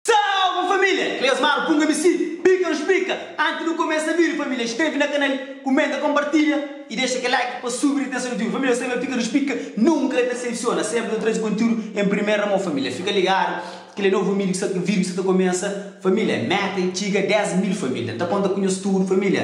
Salve família! Cleus Maro punga mi si bika nu splika anti nu kumesa vídiu família inskreve na kanal kumenta konpartilha i dexa kel like pa subi ritenson di tudu família nu sabe ma bika nu splika nunka ka desepsiona senpri nu traze kontiúdu en primeira mon família fika ligadu kel é novu mídiu ki sa vídiu ki sa ta kumesa família meta é txiga 10 mil família ta konta ku nhos tudu família.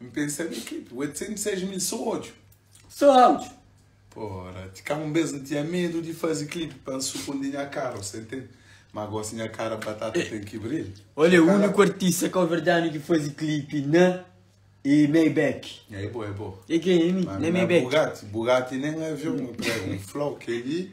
N pensa di ki? 806 mil so odju. So odju. Pora, ti ka un bes n tinha medu di fazi clip pa n sukundi nha kara, ose ntende? Ma gosi nha kara batata ten ki brilha. Ol é uniku artista kabuverdianu ki fazi clip na e Maybach. Nha é bo, é bo. E ke, e mi? Na Maybach. Ma mi na Bugatti, Bugatti nen avion, un flau kel li.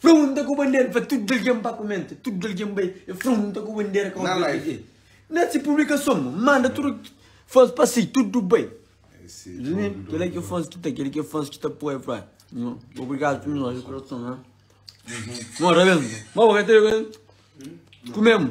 Frunta ku bandera pa tudu algen pa kumenta, tudu algen bai e frunta ku bandera ka obi algen. Na si publikason manda tudu fans pa si tudu bai. Kila ki fans ki ta, kila ki fans ki ta apoia fla obrigadu tudu nos di kurason. Nota ben. Kumemu.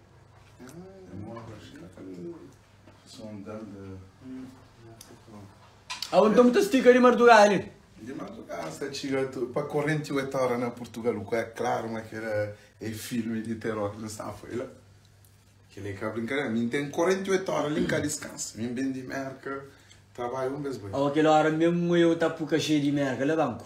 Awe nton bu ta stika di marduga li? Di madrugada sa txiga tu pa korenti oit óra na Purtugal u ku é klaru ma kel la é filmi di teror ki nu sta a foi la kel li ka brinkadera mi n ten korenti oit óra li n ka diskansa mi n bin di Mérka trabadja un bes bai Awe kel óra mésmu eu ta puka xei di Mérka la banku.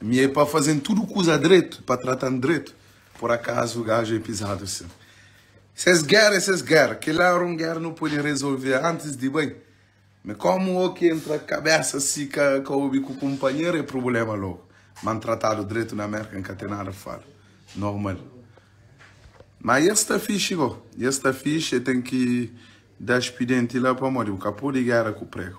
Mi é pa faze-m tudu kuza dretu, pa trata-m dretu, por akazu gaju é pizadu asin? Ses géra é ses géra, kel-la éra un géra nu pode rezolve antis di bai, ma kómu o ki entra kabésa si ka ka obi ku kunpanheru é prubléma lógu. Ma N trata-l dretu na Mérka, N ka ten nada pa fala. Normal. Ma es sta fixi bo, es sta fixi, e ten ki da spidenti la pamodi bu ka pode géra ku pregu.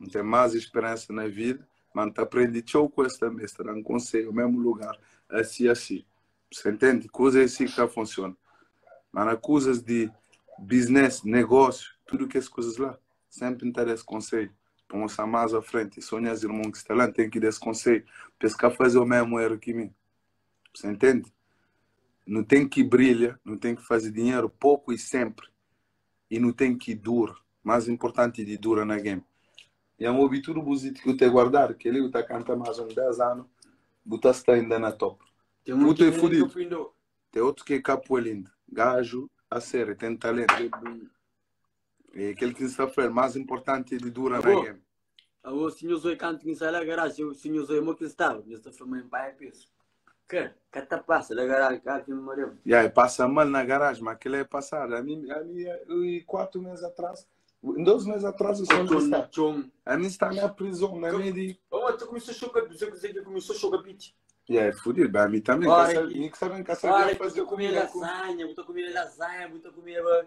N ten más speransa na vida, má N ta prende txeu kuza tanbê. Es ta da-m konsedju mésmu lugar, asi i asi. Bu sta intende? Kuza é si ki ka funsiona. Má na kuzas di bisnés, negósiu, tudu kes kuzas la, sénpri N ta da es konsedju pa N gosta más a frenti. Sô nhas irmon ki sta la, N ten ki da-s konsedju pa es ka faze o mésmu éru ki mi. Bu sta intende? Nu ten ki brilha, nu ten ki faze dinheru poku i sénpri. e nu ten ki dura. Más inportanti di dura na algen, Nha obi tudu bus iti ki bu ta guardadu, kel-li bu ta kanta más un dés anu, bu ta sta inda na top. Putu é fudidu, ten otu ki é ka pui-l inda. Gaju a ser, e ten talentu. É kel ki N sta fla-l, más inportanti di dura na algen. Aô, si nhos oi kantu ki N sai la garáji, aô, si nhos oi mo ki N staba, nhos ta fla ma N bai apesu. Ka, ka ta pasa la garáji ka alken marea-m. Ya, e pasa mal na garáji, ma kel-la é pasadu. Ami, ami, ui, kuatu mês atras, ui, dos mês atras, N Kotxon sta, na txon. ami N sta na prizon, na mei di. Aô, ma ta kumesa xoka bi, Zé Kuzê ki kumesó xoka piti. Ya, é fudidu, ben ami tanbê, Óra ki. mi ki sabe, N ka sabia Óra ki bu faze ta kumeba, kumida. lazanha, bu ta kumeba lazanha, bu ta kumeba